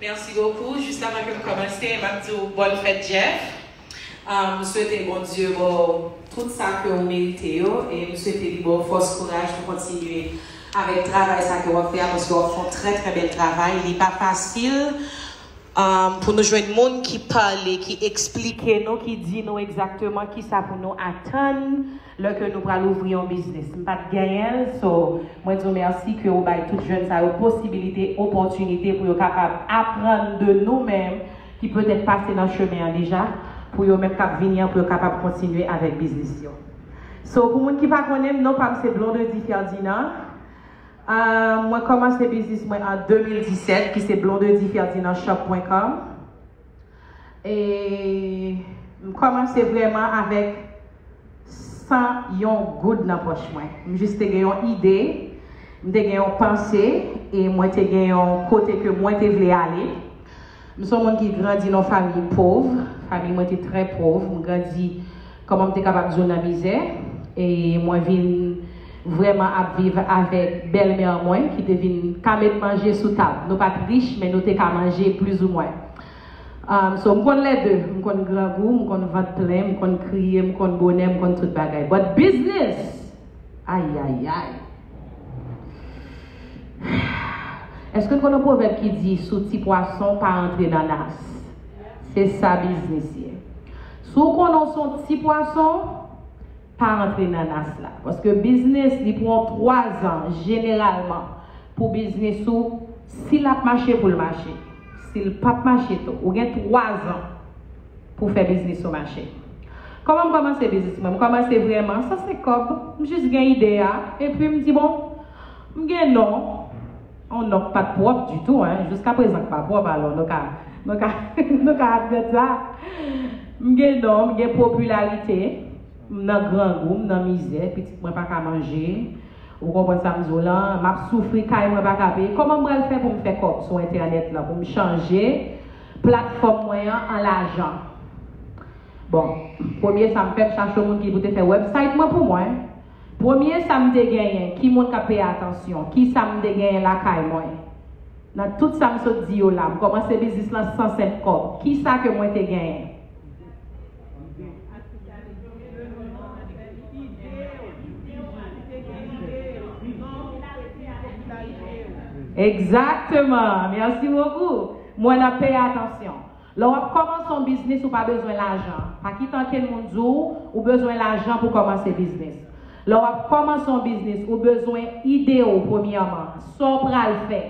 Merci beaucoup juste avan kem komanse map diw bonne fête Jeff m swete Bondye baw tout sa ke ou merite yo e m swete li baw fòs kouraj pou kontinye avèk travay sa ke wap fè a paske wap fè yon trè trè bèl travay li pa fasil pou nou jwenn moun ki pale ki esplike nou ki di nou egzakteman kisa pou nou atann lè ke nou pral ouvri yon biznis m pat genyenl so mwen diw merci ke ou bay tout jèn sa yo posibilite opòtinite pou yo kapab aprann de nou menm ki petèt pase nan chemen an deja pou yo menm kap vini an pou yo kapab kontinye avèk biznis yo so pou moun ki pa konnenm non pam se Blondedy Ferdinand ahh mwen kòmanse biznis mwen an 2017 ki se Blondedy Ferdinand shop pwen kòm. E m kòmanse vrèman avèk san yon goud nan pòch mwen. M jis te gen yon ide, m te gen yon panse e mwen te gen yon kote ke mwen te vle ale. M se yon moun ki grandi nan yon fanmi pov, fanmi mwen te trè pov, m grandi Kòman m te kapab di w nan mizè e mwen vin vrèman ap viv avèk bèlmè mwen ki te vin ka met manje sou tab. Nou pa t rich men nou te ka manje plizoumwen. So m konn lè de, m konn grangou, m konn vant plen, m konn kriye, m konn bonè, m konn tout bagay. But business! Ayayay! Eske konnen pwovèb ki di sou ti pwason pa antre nanas? Se sa biznis ye. Si w konnen w se yon ti pwason, pa antre nanas la. Paske biznis li pran 3 zan jeneralman pou biznis ou si l ap mache pou l mache. Si l p ap mache tou, ou gen 3 zan. pou fè biznis yo mache. Kòman m kòmanse biznis mwen? M kòmanse vrèman san se kòb, m jis gen ide a, epi m di bon, m gen non, yon non k pa t pwòp ditou an, jiska prezan k pa pwòp alò nou ka nou ka nou ka admèt sa, m gen non, m gen popilarite, m nan grangou, m nan mizè, pitit mwen pa ka manje, ou konprann sa m di w lan, m ap soufri, kay mwen pa ka peye, kòman m pral fè pou m fè kòb sou entènèt lan pou m chanje Platfòm mwen an an lajan. Bon, premye sa m fè, m chache yon moun ki pou te fè website mwen pou mwen. Premye sa m te genyen, ki moun k ap peye atansyon? Ki sa m te genyen lakay mwen? Nan tout sa m sot di yo la, m kòmanse biznis lan san senp kòb. Ki sa ke mwen te genyen? Exactement! Merci beaucoup! M wè nap peye atansyon. Lè wap kòmanse yon biznis ou pa bezwen lajan. Pa kite ankenn moun di w ou bezwen lajan pou kòmanse biznis. Lè wap kòmanse yon biznis ou bezwen ide w premyèman. Sa w pral fè.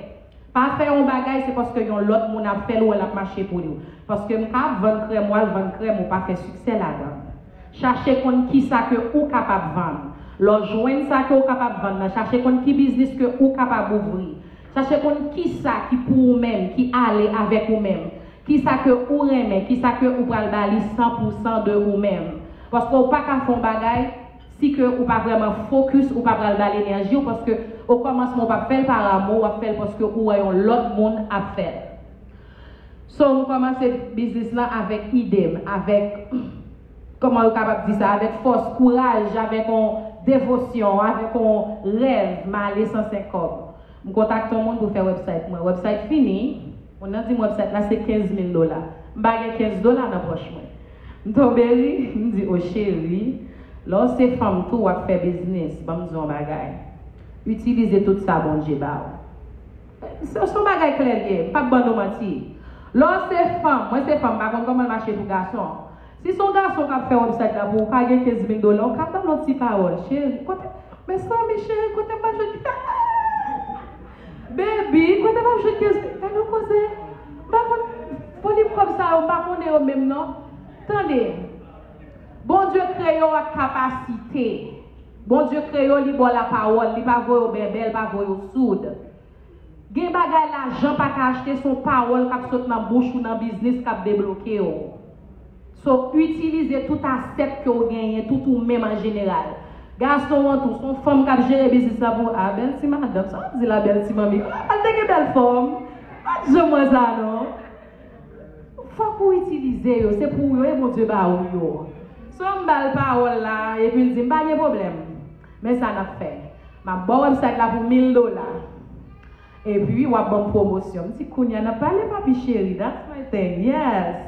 Pa fè yon bagay se paske yon lòt moun ap fè l ou wè lap mache pou li. Paske m kap vann krèm wal vann krèm ou pa fè siksè ladann. Chache konn kisa ke ou kapab vann. Lè w jwenn sa ke w kapab vann nan chache konn ki biznis ke ou kapab ouvri. Chache konn kisa ki pou ou menm, ki ale avèk ou menm. Kisa ke ou renmen, kisa ke ou pral ba li san pou san de ou menm. Paske ou pa ka fè yon bagay si ke ou pa vrèman fokis, ou pa pral ba l enèji w paske okòmansman ou pa fè l par amou, w ap fè l paske ou wè yon lòt moun ap fè l. So m kòmanse biznis lan avèk ide m, avèk. Kòman yo kapab di sa? Avèk fòs, kouraj, avèk on devosyon, avèk on rèv, m ale san senk kòb. M kontakte on moun pou fè wèbsayt mwen. Wèbsayt fini, moun nan di m wèbsayt la se kenz mil dola. M pa gen kenz dola nan pòch mwen. M tonbe ri, m di, O cheri, lè w se fanm tou w ap fè biznis, ban m di w on bagay, itilize tout sa Bondye ba w. Son bagay klè l ye, m pap ban nou manti. Lè w se fanm, mwen se fanm, m pa konn kòman l mache pou gason. Si se yon gason k ap fè website la pou ou, pa gen kenz mil dola, ou ka ban l yon ti pawòl, Cheri, kote, mezanmi cheri, kote m ap jwenn kenz mil dola? Baby, kote m ap jwenn kenz mil, gad yon koze, m pa konn, volim kòb sa yo, m pa konnen yo menm non. Tande, Bondye kreye w ak kapasite. Bondye kreyo li baw la pawol li pa voyew bèbè li pa voyew soud gen bagay lajan paka achte son pawol kap sot nan bouch ou nan biznis kap deblokew so itilize tout asèt kew genyen tout ou menm an jeneral gason an tou son fanm kap jere biznis la pou ou ah bèl ti madanm sa wap di la bèl ti manmi ah li te gen bèl fòm pat janm wè sa non. Fok ou itilize yo se pou ou yo e Bondye ba ou yo so m bal pawol la epi l dim pa gen pwoblem men sa nap fè map baw website la pou mil dola epi wap banm pwomosyon m di kounya nap pale papi cheri that's my thing yes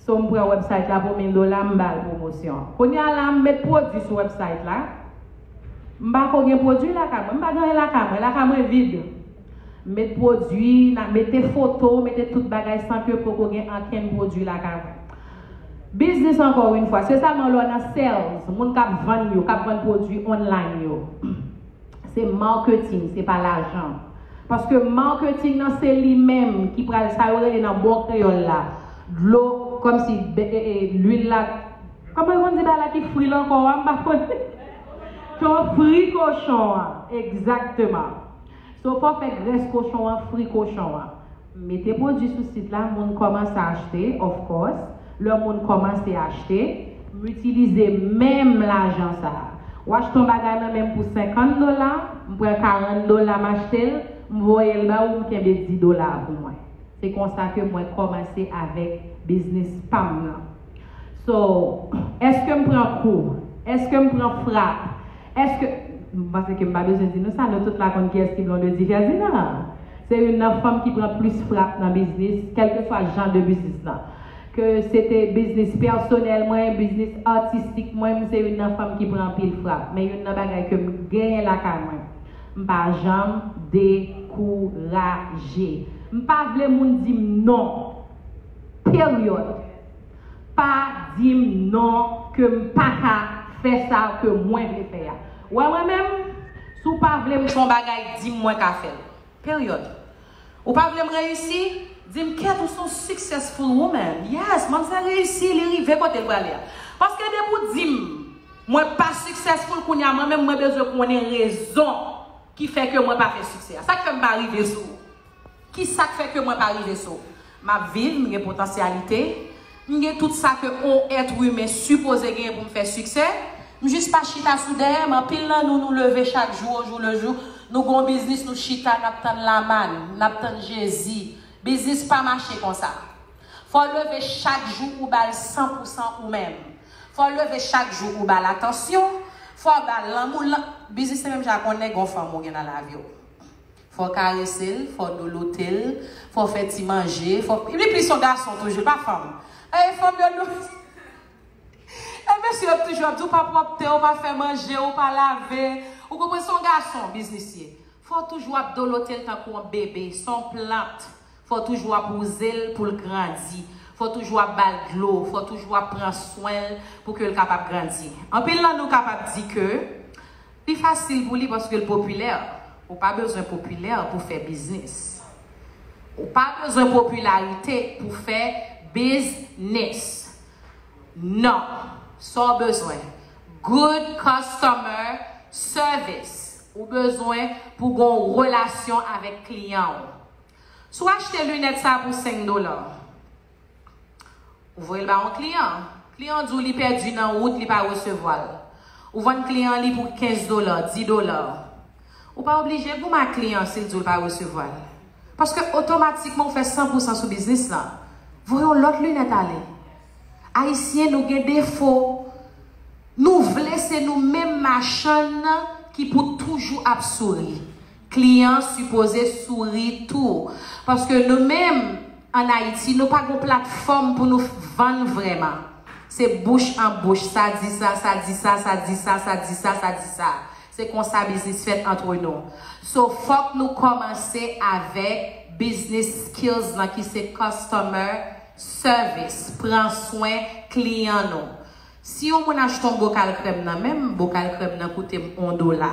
So m pran website la pou 1000 dola m bal pwomosyon. Kounya la m met pwodwi sou website la, m pa ko gen pwodwi lakay mwen, m pa gen anyen lakay mwen, lakay mwen vid. M met pwodwi, nan mete foto, mete tout bagay san ke poko gen ankenn pwodwi lakay mwen. Biznis ankò wi n fwa, se sèlman lè w nan sales, moun kap vann yo, kap vann pwodwi online yo. Se marketing se pa lajan. Paske marketing nan se li menm ki pral sa yo rele nan bon kreyòl la dlo kòm si lwil la kòman yo konn di bagay la ki fri l ankò a m pa konnen to fri kochon an egzakteman so fò fè grès kochon an fri kochon an. Mete pwodwi sou sit la moun kòmanse achte of course lè moun kòmanse achte m itilize menm lajan sa w achte yon bagay nan menm pou 50 dola m pran 40 dola m achte l m voye l ba ou m kenbe 10 dola a pou mwen se konsa ke mwen kòmanse avèk biznis pa m nan so èske m pran kou èske m pran frap Eske, m panse ke m pa bezwen di nou sa, nou tout la konn kiyès ki Blondedy Ferdinand. Se youn nan fanm ki pran plis frap nan biznis, kèlkeswa jan de biznis lan. Ke se te biznis pèsonèl mwen, biznis atistik mwen, m se youn nan fanm ki pran anpil frap. Men youn nan bagay ke m genyen lakay mwen, m pa janm dekouraje. M pa vle moun di m non. Peryòd. Pa dim non ke m paka fè sa ke mwen vle fè a. Wè mwen menm, si w pa vle m fè yon bagay di m mwen ka fè l. Period. Ou pa vle m reyisi? Di m Kate ou se yon successful woman. Yes, manmzèl reyisi, li rive kote l prale a. Paske depi w di m mwen pa successful kounya mwen menm mwen bezwen konnen rezon ki fè ke mwen pa fè siksè a. Sa k fè m pa rive sou ou? Ki sa k fè ke mwen pa rive sou. M ap viv, m gen potansyalite, m gen tout sa ke on èt imen sipoze genyen pou m fè siksè. M jis pa chita sou dèyè m. Anpil nan nou, nou leve chak jou ojou lejou, nou gen yon biznis nou chita n ap tann lamann, n ap tann Jezi. Biznis pa mache konsa. Fò w leve chak jou ou ba l san pou san ou menm. Fò w leve chak jou ou ba l atansyon, fò w ba l lanmou l. Biznis se menm jan ak on nèg, on fanm ou gen nan lavi w. Fò karese l, fò douloute l, fò fè ti manje, fò Li plis yon gason toujou, li pa fanm. Ey fanm yo dou Ey mesye yo toujou ap di w pa pwòpte, w pa fè manje, w pa lave Ou konprann se yon gason biznis ye Fò w toujou ap dolote l tankou yon bebe, se yon plant Fò w toujou ap wouze l pou l grandi Fò w toujou ap ba l dlo, fò w toujou ap pran swen l pou ke l kapab grandi Anpil nan nou kapab di ke. Li fasil pou li paske l popilè. Ou pa bezwen popilè pou fè biznis. Ou pa bezwen popilarite pou fè biznis. Non. Sa w bezwen, good customer service. Ou bezwen pou gen yon relasyon avèk kliyan w. Si w achte linèt sa pou 5 dola. Ou voye l ba yon kliyan. Kliyan an di w li pèdi nan wout, li pa resevwa l. Ou vann kliyan an li pou 15 dola, 10 dola. Ou pa oblije goumen ak kliyan an si l di w l pa resevwa l. Paske otomatikman ou fè 100 pousan sou biznis lan. Voye yon lòt linèt ale. Ayisyen nou gen defo, nou vle se nou menm machann ki pou toujou ap souri. Kliyan sipoze souri tou. Paske nou menm an Ayiti nou pa gon platfòm pou nou vann vrèman. Se bouch an bouch, sa di sa, sa di sa, sa di sa, sa di sa, sa di sa. Se konsa biznis fèt antre nou. So fòk nou kòmanse avèk biznis skills lan ki se customer service, pran swen kliyan nou. Si yon moun achte yon bokal krèm nan men m, bokal krèm nan koute m yon dola.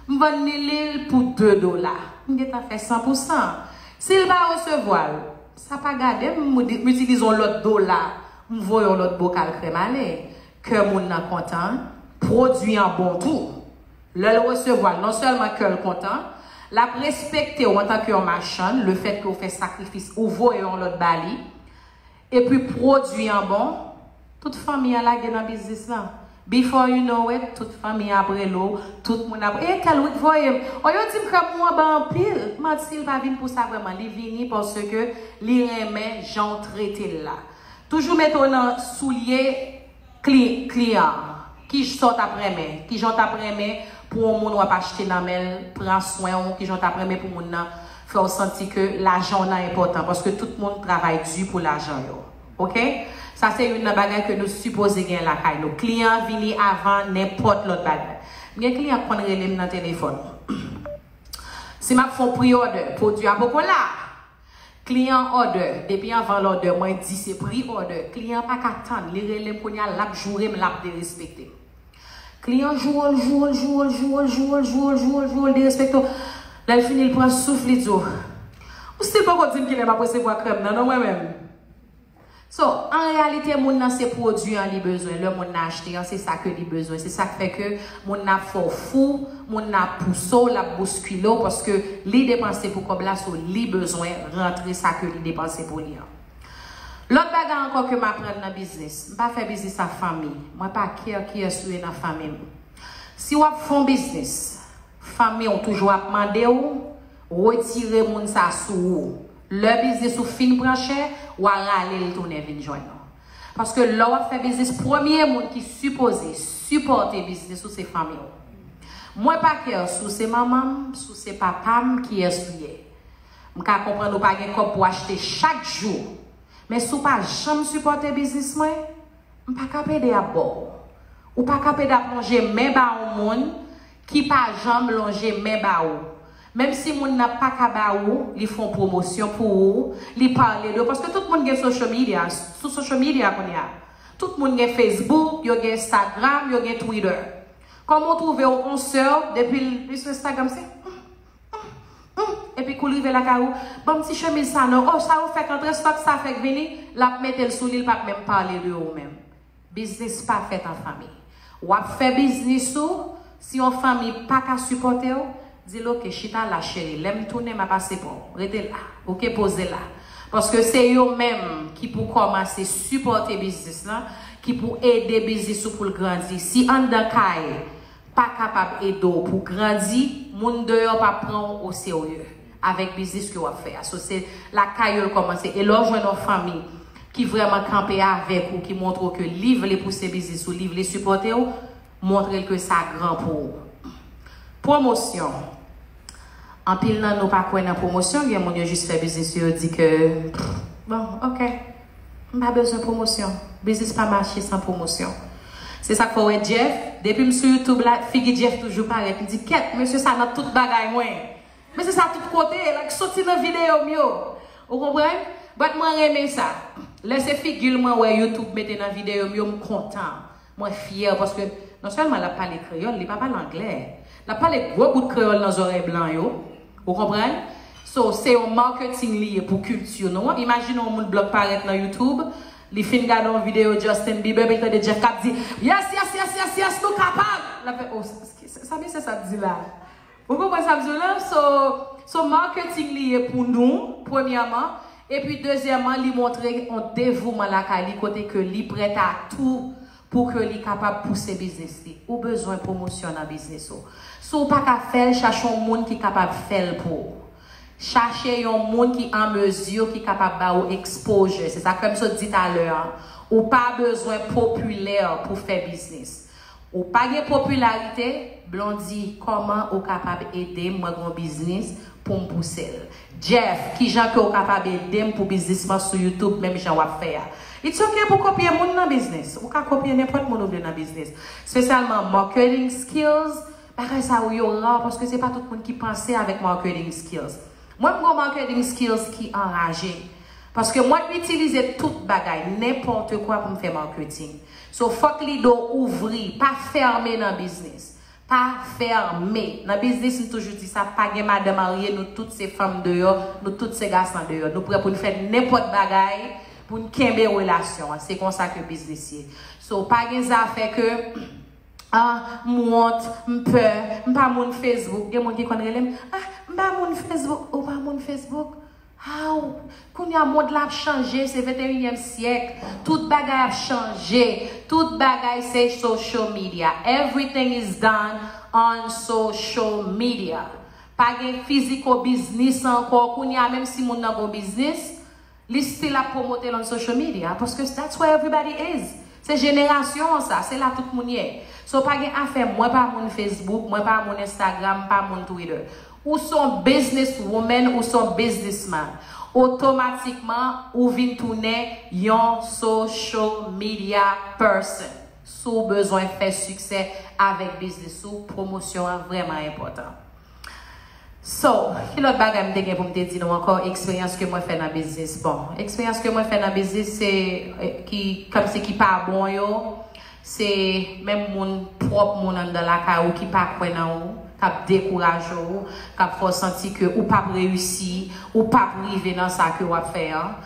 M vann li li l pou de dola. M gen tan fè san pou san. Si l pa resevwa l, sa pa gade m, m itilize yon lòt dola, m voye yon lòt bokal krèm ale. Kè moun nan kontan, pwodui an bon tou. Lè l resevwa l, non sèlman kè l kontan, l ap respekte w antanke yon machann, lefètke ou fè sakrifis, ou voye yon lòt ba li. Epi pwodwi an bon, tout fanmi an lage nan biznis lan. Before you know it, tout fanmi an ap rele w, tout moun ap, e tèl wi k voye m. O yo di m krèm ou an bon anpil. Manti, l pa vin pou sa vrèman. Li vini paske li renmen jan w trete l la. Toujou mete w nan soulye. Client, Kijn sa w tap renmen? Kijan w tap renmen pou yon moun wap achte nan men l pran swen w? Kijan w tap renmen pou moun nan fè w santi ke lajan w nan enpòtan? Paske tout moun travay di pou lajan yo. Ok? Sa se youn nan bagay ke nou sipoze gen lakay nou. Kliyan an vini avan nenpòt lòt bagay. M gen kliyan k konn rele m nan telefòn. Si m ap fè yon pre-order, pwodui a poko la! Client order depi anvan lòdè mwen di se pri òdè client paka tann li relem kounya lap jourem lap derespektem client jourel jourel jourel jourel jourel jourel jourel jourel derespektew lèl fini l pran souf li diw ou stil poko dim kilè map resevwa krèm nan non mwen menm So, an reyalite moun nan se pwodwi an li bezwen, lè moun nan achte an se sa ke li bezwen, se sak fè ke moun nan ap fè w fou, moun nan ap pouse w, lap bouskile w paske li depanse pou kòb la so li bezwen rantre sa ke li depanse pou li an. Lòt bagay ankò ke m aprann nan biznis, m pa fè biznis a fanmi, mwen pa care kiyès ou ye nan fanmi m. Si wap fon biznis, fanmi w toujou ap mande w retire moun sa sou ou, Lè biznis ou fin pran chè, wa rale l tounen vin jwenn ou. Paske lè wap fè biznis premye moun ki sipoze sipòte biznis ou se fanmi w. Mwen pa kè sou se manman m, sou se papa m kiyès ou ye. M ka konprann ou pa gen kòb pou achte chak jou. Men si w pa janm sipòte biznis mwen, m pa kap ede ap ba w. Ou pa kap ede ap lonje men ba on moun Ki pa janm lonje men ba ou. Menm si moun nan pa ka ba ou, li fon pwomosyon pou ou, li pale de ou. Paske tout moun gen social media, sou social media kounye a. Tout moun gen Facebook, yo gen Instagram, yo gen Twitter. Kòman ou twouve w on sè w, depi l li sou Instagram se Humm, humm, humm. Epi kou l rive lakay ou, ban m ti chemiz sa non, oh sa ou fèk antre, stok sa fèk vini, l ap mete l sou li, l p ap menm pale de ou menm. Biznis pa fèt an fanmi. Wap fè biznis ou, si yon fanmi paka sipòtew, dil ok chita la cheri lèm tounen map ase pouw. Rete la ok poze la. Paske se yo menm ki pou kòmanse sipòte biznis lan, ki pou ede biznis ou poul grandi. Si anndan kay pa kapab edew pou grandi, moun deyò pa pranw oserye. avèk biznis ke wap fè a so se lakay yo l kòmanse e lè w jwenn yon fanmi ki vrèman kanpe avèk ou ki montre w ke li vle pouse biznis ou li vle sipòte w montre l ke sa gran pou ou pwomosyon anpil nan nou pa kwè nan pwomosyon gen moun yo jis fè biznis yo yo di ke bon ok m pa bezwen pwomosyon biznis pa mache san pwomosyon se sak fè w wè Jeff depi m sou youtube la figi Jeff toujou parèt m di kèt mesye sa nan tout bagay mwen. Men se sa tout kote e lak soti nan video m yo ou konprann bat mwen renmen sa lè se figil mwen wè youtube mete nan video m yo m kontan mwen fyè paske non sèlman lap pale kreyòl li pa pale anglè lap pale gwo bout kreyòl nan zòrèy blan yo ou konprann so se yon marketing li ye pou kilti nou an imajine yon moun blan parèt nan youtube li fin gade yon video Justin Bieber epi li tande Jeff kap di yes yes yes yes yes nou kapab lap fè oh sa mesye sa ap di la. Ou konprann sa m di w la? So, so marketing li ye pou nou, premyèman, epi dezyèman li montre on devouman lakay li kote ke li prèt a tou pou ke li kapab pouse biznis li. Ou bezwen pwomosyon nan biznis ou. Si w pa ka fè l, chache on moun ki kapab fè l pou ou. Chache yon moun ki an mezi, ki kapab ba ou exposure. Se sa k fè m sot di talè an, ou pa bezwen popilè pou fè biznis. Ou pa gen popilarite? Blondy, kòman ou kapab ede m mwen gon biznis pou m pouse l. Jeff, kijan ke w kapab ede m pou biznis mwen sou youtube menm jan w ap fè a? It's ok pou kopye moun nan biznis. Ou ka kopye nenpòt moun ou vle nan biznis. Spesyalman marketing skills, bagay sa yo yo rare paske se pa tout moun ki panse avèk marketing skills. Mwen m gon marketing skills ki anraje. Paske mwen itilize tout bagay, nenpòte kwa pou m fè marketing. So fòk lido ouvri, pa fèrme nan biznis. Pa fèrme nan biznis m toujou di sa pa gen madan marye nou tout se fanm deyò, nou tout se gasan deyò. Nou prè pou n fè nenpòt bagay pou n kenbe relasyon an. Se konsa ke biznis ye. So pa gen zafè ke ah m wont, m pè, m pa moun Facebook. Gen moun ki konn rele m, ah m pa moun Facebook. Ou pa moun Facebook? Aww kounya mond la ap chanje se 21 yèm syèk tout bagay ap chanje tout bagay se social media everything is done on social media pa gen fiziko biznis ankò kounya menm si moun nan gon biznis li still ap promotel on social media paske that's where everybody is se jenerasyon an sa se la tout moun ye so pa gen afè mwen pa moun facebook mwen pa moun instagram m pa moun twitter Ou se yon business woman ou se yon business man, otomatikman ou vin tounen yon social media person si w bezwen fè siksè avèk business ou, pwomosyon an vrèman enpòtan. So, ki lòt bagay m te gen pou m te di nou ankò eksperyans ke mwen fè nan business? Bon, eksperyans ke mwen fè nan business se ki kòmsi ki pa bon yo, Se menm moun, pwòp moun anndan lakay ou ki pa kwè nan ou, k ap dekouraje ou, k ap fè w santi ke ou p ap reyisi, ou p ap rive nan sa ke w ap fè an.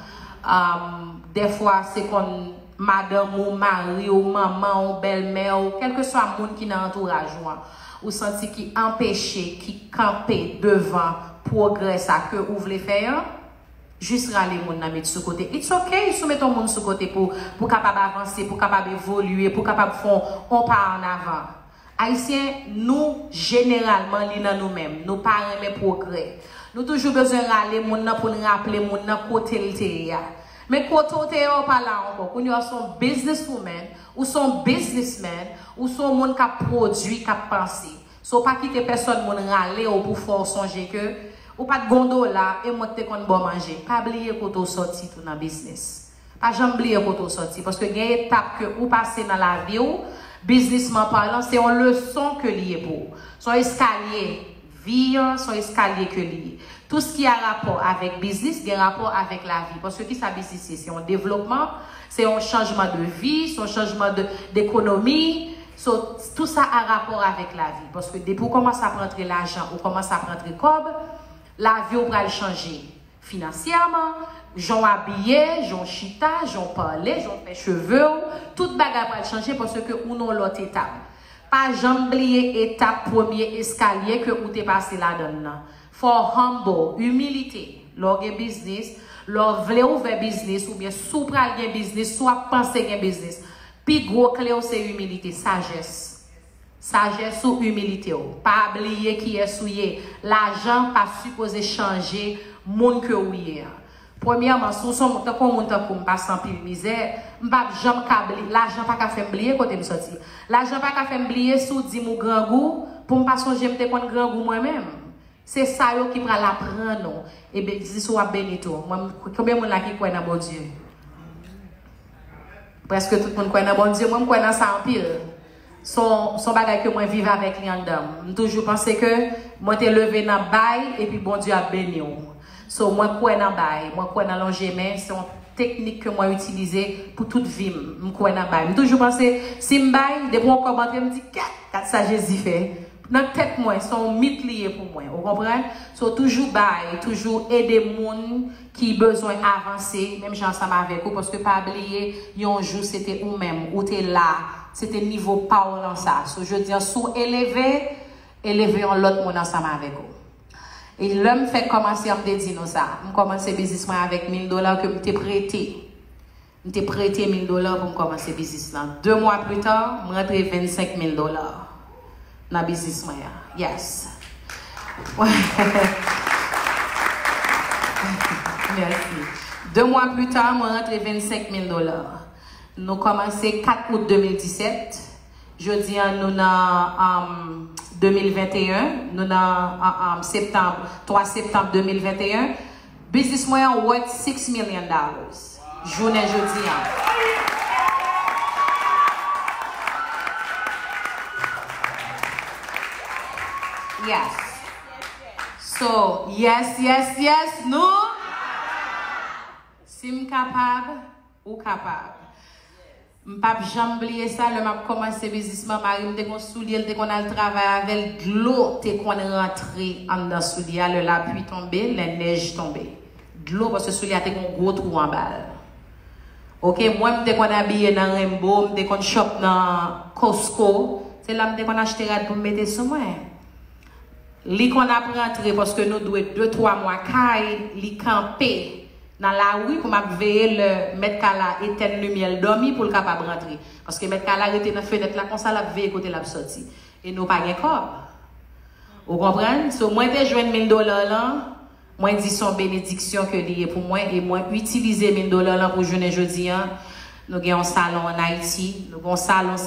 Dèfwa se konn madanm ou, mari w, manman w, bèlmè w, kèlkeswa moun ki nan antouraj ou an, ou santi ki anpeche, ki kanpe devan pwogrè sa ke ou vle fè an. Jis rale moun nan met sou kote. It's ok si w met on moun sou kote pou pou kapab avanse, pou kapab evolye, pou kapab fè on pa an avan. Ayisyen nou jeneralman li nan nou menm, nou pa renmen pwogrè. Nou toujou bezwen rale moun nan pou n raple moun nan kote l te ye a. Men kote w te ye a w pa la ankò. Kounye a w se on business woman, ou se on business man, ou se on moun k ap pwodui, k ap panse. So pa kite pèsòn moun rale w pou fè w sonje ke ou pat gon dola e mwen k te konn ba w manje. Pa bliye kote w sòti tou nan biznis. Pa janm bliye kote w sòti paske gen etap ke ou pase nan lavi w, biznisman palan, se yon leson ke li ye pou ou. Se yon eskalye, vi an se yon eskalye ke li ye. Tou s ki a rapò avèk biznis gen rapò avèk lavi paske ki sa biznis ye? Se yon devlopman, se yon chanjman de vi, se yon chanjman de ekonomi. So, tout sa a rapò avèk lavi. Paske depi ou kòmanse ap rantre lajan, ou kòmanse ap rantre kòb, lavi w pral chanje. Finansyèman, jan w abiye, jan w chita, jan w pale, jan w fè cheve w, tout bagay pral chanje paske ou nan yon lòt etap. Pa janm bliye etap premye eskalye ke ou te pase ladan l lan. Fò w humble, imilite, lè w gen biznis, lè w vle ouvè biznis oubyen si w pral gen biznis, si w ap panse gen biznis. Pi gwo kle w se imilite, sajès. Sajès ou, imilite w. Pa bliye kiyès ou ye. Lajan pa sipoze chanje moun ke ou ye an. Premyèman, si w son tankou yon moun tankou m pase anpil mizè, m pa p janm ka bli, lajan pa ka fè m bliye kote m soti. Lajan pa ka fè m bliye si w di m ou grangou, pou m pa sonje m te konn grangou mwen menm. Se sa yo ki pral apran nou. E be jis ou ap beni tou. Mwen m konbyen moun la ki kwè nan Bondye? Preske tout moun kwè nan Bondye. Mwen m kwè nan sa anpil. Son son bagay ke mwen viv avèk li anndanm. M toujou panse ke mwen te leve nan bay epi Bondye ap beni w. So mwen kwè nan bay. Mwen kwè nan lonje men. Se yon teknik ke mwen itilize pou tout vi m. M kwè nan bay. M toujou panse si m bay depi yon kòb antre m di kèt! Gad sa Jezi fè. Nan tèt mwen son w mit li ye pou mwen ou konprann so toujou bay toujou ede moun ki bezwen avanse menm jan ansanm avèk ou paske pa bliye yon jou se te ou menm ou te la se te nivo pa w lan sa so jodia si w eleve eleve yon lòt moun ansanm avèk ou e lè m fèk kòmanse an m te di nou sa m kòmanse biznis mwen avèk mil dola ke m te prete. M te prete mil dola pou m kòmanse biznis lan. De mwa pli ta, m rantre 25 mil dola nan biznis mwen an. Yes. Mèsi. De mwa pli ta, mwen rantre 25 mil dola. Nou kòmanse 4 out 2017. Jodi an nou nan 2021. Nou nan septanb, 3 septanb 2021. Biznis mwen an worth six million dollars jounen jodi an. Yes. So, yes, yes, yes, nou Si m kapab, ou kapab. M pap janm bliye sa lè map kòmanse biznis lan marim te gon soulye l te konn al travay avè l dlo te konn rantre anndan soulye a lè lapui tonbe lè nèj tonbe dlo paske soulye a te gon gwo twou anba l ok mwen m te konn abiye nan renbo m te konn chòp nan kosko se la m te konn achte rad pou m mete sou mwen. Li konn ap rantre paske nou dwe de twa mwa kay li kanpe nan lari pou m ap veye lè mèt kay la etèn limyè l dòmi pou l kapab rantre paske mèt kay la rete nan fenèt la konsa l ap veye kote l ap sòti e nou pa gen kòb ou konprann so mwen te jwenn mil dola lan mwen di s on benediksyon ke li ye pou mwen e mwen itilize mil dola lan pou jounen jodi an nou gen yon salon an Ayiti nou gen yon salon.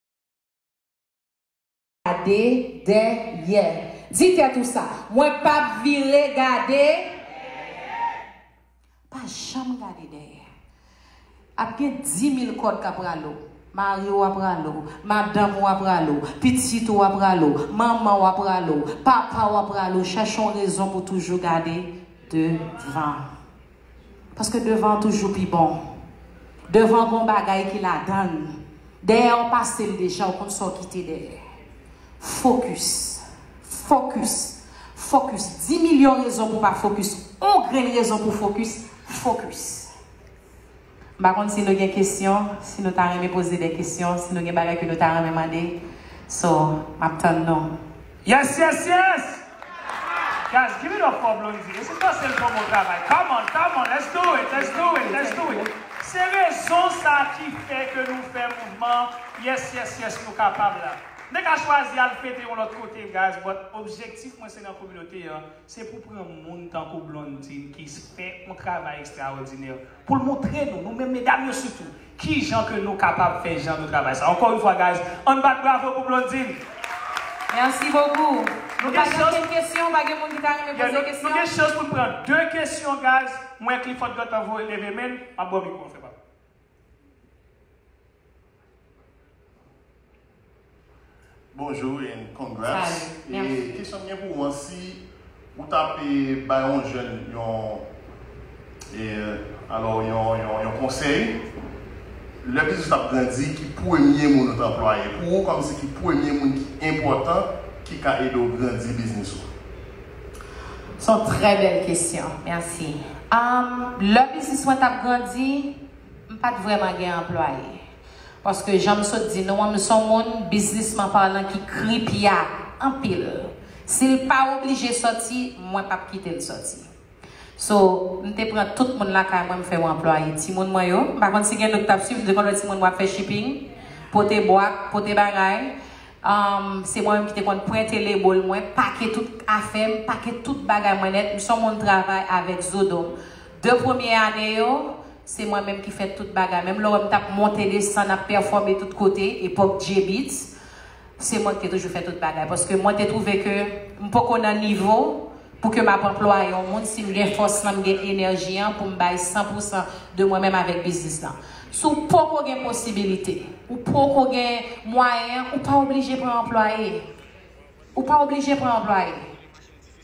Gade dè yè. Di tèt ou sa. Mwen pap vire gade dèyè. Pa janm gade dèyè. Ap gen dimil kòd k ap rale w. Mari w ap rale w. Madanm ou ap rale w. Pitit ou ap rale w. Manman w ap rale w. Papa w ap rale w. Chèche yon rezon pou toujou gade devan. Paske devan toujou pi bon. Devan gon bagay ki ladann. Dèyè ou pase l deja ou konn sa w kite dèyè. Fokis. Fokis. Fokis. Di milyon rezon pou pa fokis. On grenn rezon pou fokis. Fokis. M pa konn si nou gen kesyon, si nou ta renmen poze de kesyon, si nou gen bagay ke nou ta renmen mande. So, m ap tann nou. Yes yes yes Guys give it up for Blondie This is Marcel Promo travay Come on come on let's do it let's do it let's do it Se rezon sa ki fè ke nou fè mouvman Yes yes yes nou kapab la M te ka chwazi al fete yon lòt kote guys but objektif mwen se nan kominote an se pou pran moun tankou Blondine ki fè yon travay ekstraòdinè Pou l montre nou, nou menm medam yo sitou, ki jan ke nou kapab fè jan de travay sa. Encore une fois guys, ann bat bravo pou Blondine! Merci beaucoup. Nou pa gen ankenn kesyon? Pa gen moun ki ta renmen poze kesyon? Yeah, nou gen chans pou n pran 2 kesyon guys. Mwen Clifford Gantan voye leve men l. M ap ba w mikwo an frè pa m. Bonjour and congrats e kesyon m gen pou ou an si ou ta pe bay yon jèn yon e alò yon yon yon konsèy lè biznis la ap grandi ki premye moun ou t anplwaye pou ou kòmsi ki premye moun ki enpòtan ki ka ede w grandi biznis ou. S on trè bèl kesyon. Mèsi. Am lè biznis mwen t ap grandi. M pa t vrèman gen anplwaye. Paske jan m sot di nou an, m s on moun, biznisman palan, ki kripya anpil. Si l pa oblije sòti, mwen p ap kite l sòti. So, m te pran tout moun lakay mwen m fè yo anplwaye. Timoun mwen yo, m pa konn si gen nou ki t ap swiv, m te konn wè timoun mwen ap fè shipping, pote bwat, pote bagay. Se mwen menm ki te konn prente lebo l mwen, pake tout afè m, pake tout bagay mwen nèt. M s on moun travay avèk zo do m. 2 premye ane yo, se mwen menm ki fè tout bagay. Menm lè w wè m t ap monte desann, ap pèfòme tout kote, epòk Djebeats, se mwen ki te toujou fè tout bagay. Paske mwen te twouve ke m poko nan nivo pou ke m ap anplwaye yon moun si m gen fòs lan, m gen enèji an pou m bay san pou san de mwen menm avèk biznis lan. Si w poko gen posibilite, ou poko gen mwayen, ou pa oblije pran anplwaye. Ou pa oblije pran anplwaye.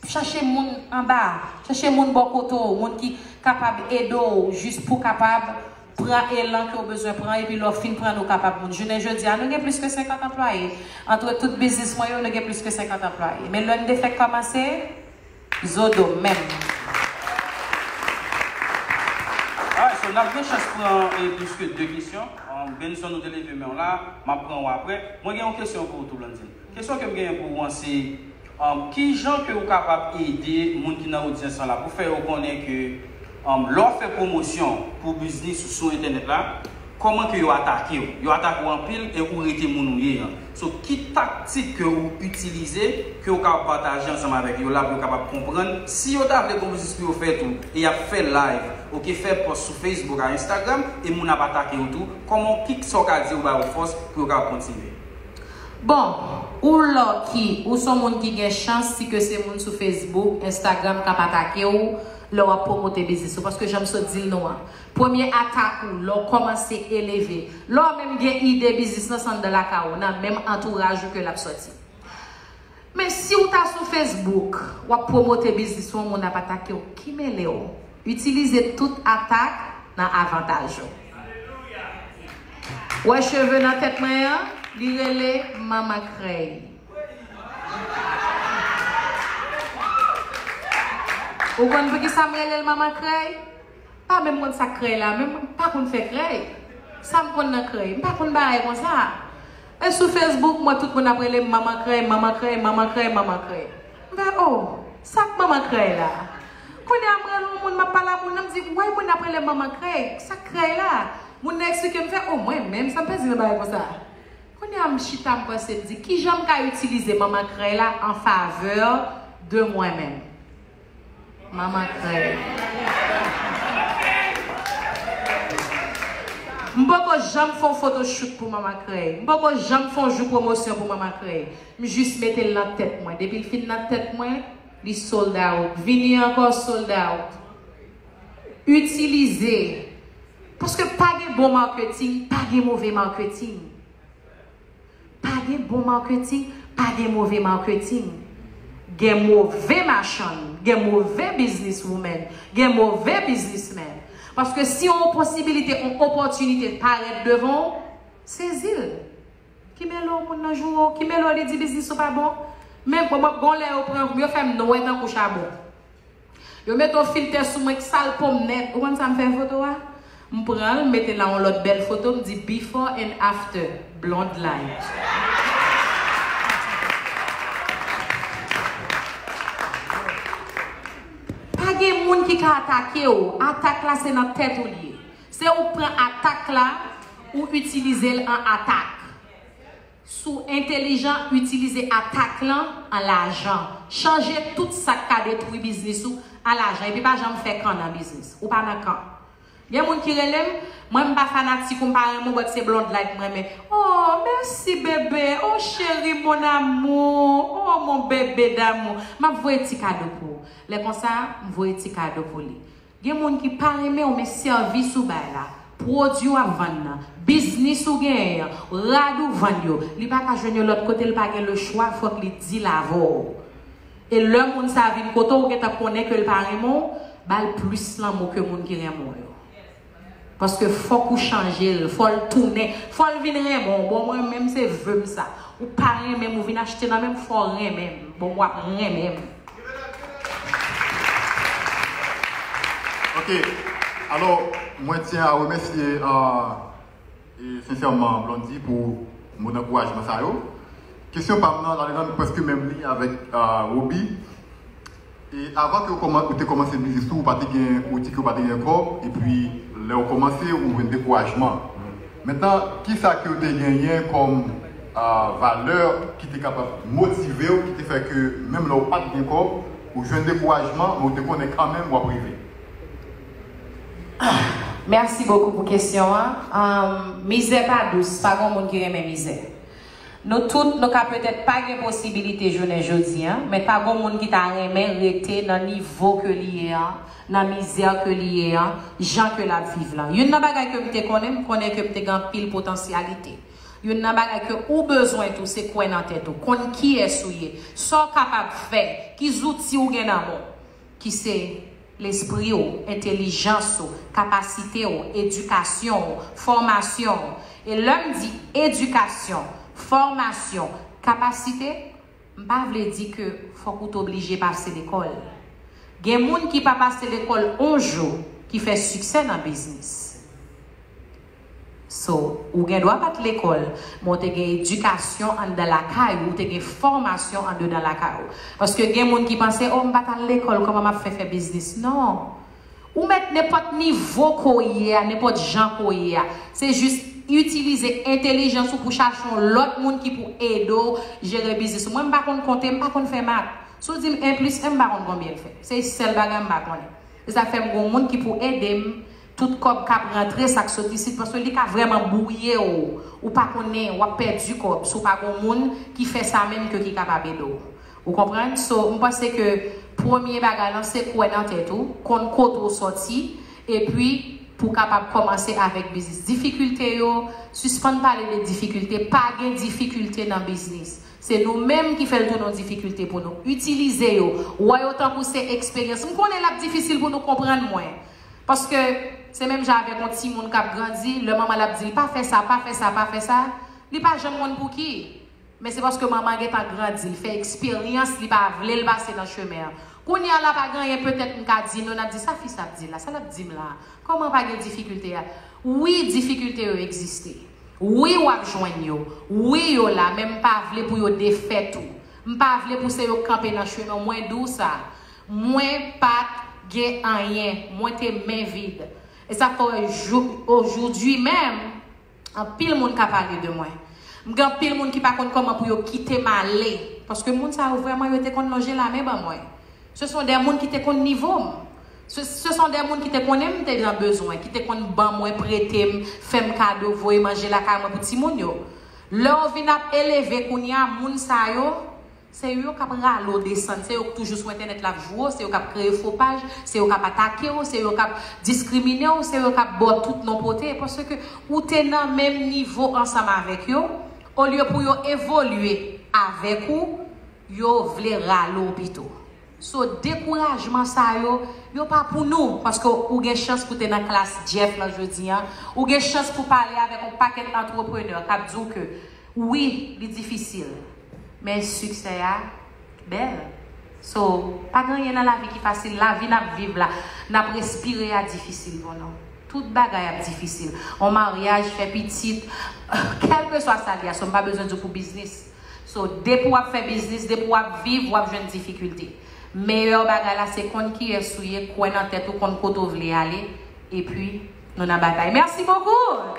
Chache moun anba, chache moun bò kote w, moun ki kapab ede w jis pou w kapab pran elan ke w bezwen pran epi lè w fin pran nou kapab moun. Jounen jodi a, nou gen plis ke 50 anplwaye. Antre tout biznis mwen yo, nou gen plis ke 50 anplwaye. Men lè n te fèk kòmanse, zo do m menm. Alright, so n ap gen chans pran plis ke 2 kesyon. Benson ou te leve men w la, m ap pran ou aprè. Mwen gen yon kesyon pou ou tou Blandine. Kesyon ke m genyen pou ou an se, Ki jan ke ou kapab ede moun ki nan odyans lan la pou fè yo konnen ke lè w ap fè pwomosyon pou biznis ou sou entènèt la, kòman ke yo atake w? Yo atake w anpil e ou rete moun ou ye an. So, ki taktik ke ou itilize ke ou kapab pataje ansanm avèk yo la pou yo kapab konprann si yo ta vle gon biznis pou yo fè tou e y ap fè live ok fè pòs sou Facebook a Instagram e moun ap atake yo tou kòman w ki sa w ka di yo ba yo fòs pou yo kapab kontinye? Bon, ou lucky, ou son moun ki gen chans si ke se moun sou Facebook, Instagram kap atake w lè wap promote biznis ou. Paske janm sot di l nou an, premye atak ou lè w komanse eleve, lè w menm gen ide biznis lan se anndan lakay ou, nan menm antouraj ou ke lap soti. Men si ou ta sou Facebook wap promote biznis ou yon moun ap atake w ki mele w? Itilize tout atak nan avantaj ou. Wè cheve nan tèt mwen an? Li rele manman krèy. Ou konn poukisa m rele l manman krèy? M pa menm konn sa k krèy la menm, m pa konn fè krèy. Sa m konn nan krèy? M pa konn bagay konsa. E sou Facebook mwen tout moun ap relem manman krèy manman krèy manman krèy manman krèy m fè oh sak manman krèy la kounye a m rele yon moun map pale a moun nan m di m wè moun ap relem manman krèy sak krèy la moun nan eksplike m fè oh mwen menm sa m pèdi nan bagay konsa kounye a m chita m panse m di kijan m ka itilize manman krèy la an favè de mwen menm. Mama krèy. M poko janm fon photoshoot pou mama krèy. M poko janm fon jou pwomosyon pou mama krèy. M jis mete l nan tèt mwen. Depi l fin nan tèt mwen, li sold out. Vini ankò sold out. Itilize. Paske pa gen bon marketing, pa gen move marketing. Pa gen bon marketing, pa gen move marketing. Gen move machann, gen move business woman, gen move business man. Paske si on posibilite, on opòtinite parèt devan w, sezi l. Ki mele w moun nan joure w, ki mele w li di business ou pa bon. Men bon mwen gen yon lè yo pran, yo fè m nwè tankou chabon. Yo met on filtè sou mwen k sal pom nèt ou konn sam fè foto a m pranl m mete la on lòt bèl foto m di before and after blonde light. Pa gen moun ki ka atake w atak la se nan tèt ou l ye se ou k pran atak la ou itilize l an atak. Si w entelijan, itilize atak lan an lajan. Chanje tout sa k ka detwi biznis ou an lajan epi pa janm fè kan nan biznis. Ou pa nan kan. Gen moun ki rele m, mwen m pa fanatik ou, m pa renmen w but se Blondlight m renmen. Oh mèsi bebe, oh cheri mon amour, oh mon bebe d'amour. M ap voye ti kado pou ou. Lè konsa, m voye ti kado pou li. Gen moun ki pa renmen w men sèvis ou bay la, pwodui w ap vann nan, biznis ou genyen an, rad ou vann yo, li pa ka jwenn yo lòt kote l pa gen lechwa fòk li dil avè w. E lè moun sa vin kote w ou gentan konnen ke l pa renmen w, ba l plis lanmou ke moun ki renmen w yo. Paske fok ou chanjel fol tounen fol vin renmen w bon mwen menm se veum sa ou pa renmenm ou vin achte nan menm fò renmenm bon wap renmenm. Ok alò mwen tyen a remèsye sensèman Blondy pou mo dankourajman sa yo. Kesyon pam nan la li menm preske menm li avèk Roby E avan ke ou te komanse biznis tou ou pa te gen ou di ke ou pa te gen kob e pi lèw komanse ou jwenn dekourajman. Mentnan kisa ke ou te genyen kom valè ki te kapab motivew ki te fè ke menm lè ou pat gen kob ou jwenn dekourajman men ou te konnen kanmenm wap rive? Merci beaucoup pou kesyon an. Mizè pa dous, pa gon moun ki renmen mizè. Nou tout, nou ka petèt pa gen posibilite jounen jodi an, men pa gon moun ki ta renmen rete nan nivo ke li ye an, nan mizè ke li ye an, jan ke lap viv lan. Youn nan bagay ke m te konnen, m konnen ke m te gen anpil potansyalite. Youn nan bagay ke ou bezwen tou, se kwè nan tèt ou, konn kiyès ou ye, sa w kapab fè, ki zouti ou gen nan men w. ki se, lespri w, entelijans ou, kapasite w, edikasyon w, fòmasyon w, e lè m di edikasyon, fòmasyon, kapasite, m pa vle di ke fòk ou t oblije pase lekòl. Gen moun ki pa pase lekòl on jou ki fè siksè nan biznis. So, ou gen dwa pa t lekòl, men w te gen edikasyon anndan lakay ou, ou te gen fòmasyon andedan lakay ou. Paske gen moun ki panse, o m pa t al lekòl, kòman m ap fè fè biznis? Non! Ou mèt nenpòt nivo ke w ye a, nenpòt jan ke w ye a. Se jis itilize entelijans ou pou chache yon lòt moun ki pou ede w jere biznis ou. Mwen m pa konn konte, m pa konn fè mat. Si w di m 1 plis 1, m pa konn konbyen l fè. Se sèl bagay m pa konnen. Se sa k fè m gen yon moun ki pou ede m Tout kòb kap rantre sak sot isit paske li ka vrèman bwouyew ou pa konnen wap pèdi kòb si w pa gon moun ki fè sa menm ke ki kapab ede w ou konprann so m panse ke premye bagay lan se kwè nan tèt ou konn kote w sòti epi pou kapab kòmanse avèk biznis difikilte yo sispann pale de difikilte pa gen difikilte nan biznis se nou menm ki fèl tounen yon difikilte pou nou itilize yo wè yo tankou se eksperyans m konnen lap difisil pou nou konprann mwen Paske, se menm jan avèk yon timoun k ap grandi, lè manman l ap di l pa fè sa, pa fè sa, pa fè sa, li pa janm konn pouki. Men se paske manman an gen tan grandi, l fè eksperyans, li pa vle l pase nan chemen an. Kounye a la, pa gen anyen petèt m ka di nou, n ap di sa fi sa ap di la, sa l ap di m la a, kòman pa gen difikilte a? Wi, difikilte yo egziste. Wi, w ap jwenn yo. Wi, yo la, men m pa vle pou yo defèt ou. M pa vle pou se yo k kanpe nan chemen w. Mwen di w sa. Mwen pat gen anyen. Mwen te men vid. E sa k fè wè jouk ojoudwi menm, anpil moun ka pale de mwen. M gen anpil moun ki pa konn kòman pou yo kite m ale. Paske moun sa yo vrèman yo te konn lonje lamen ban mwen. Se son dè moun ki te konn nivo m. Se son dè moun ki te konnen m te nan bezwen, ki te konn ban mwen, prete m, fè m kado, voye manje lakay mwen pou timoun yo. Lè w vin ap eleve kounya moun sa yo. Se yo yo kap rale w desann, se yo k toujou sou entènèt la ap jwe w, se yo kap kreye fo paj, se yo kap atake w, se yo kap diskrimine w, se yo kap ba w tout non pote paske ou te nan menm nivo ansanm avèk yo, olye pou yo evolye avèk ou, yo vle rale w pito. So dekourajman sa yo, yo pa pou nou paske ou gen chans pou te nan klas Jeff lan jodi an, ou gen chans pou pale avèk on pakèt antreprenè kap di w ke Wi li difisil men siksè a bèl so pa gen anyen nan lavi ki fasil lavi nap viv la nap respire a difisil bon non tout bagay ap difisil on maryaj fè pitit kèlkeswa sa li a so m pa bezwen diw pou biznis so depi wap fè biznis depi wap viv wap jwenn difikilte meyè bagay la se konn kiyès ou ye kwè nan tèt ou konn kote ou vle ale epi Nou nan batay. Merci beaucoup!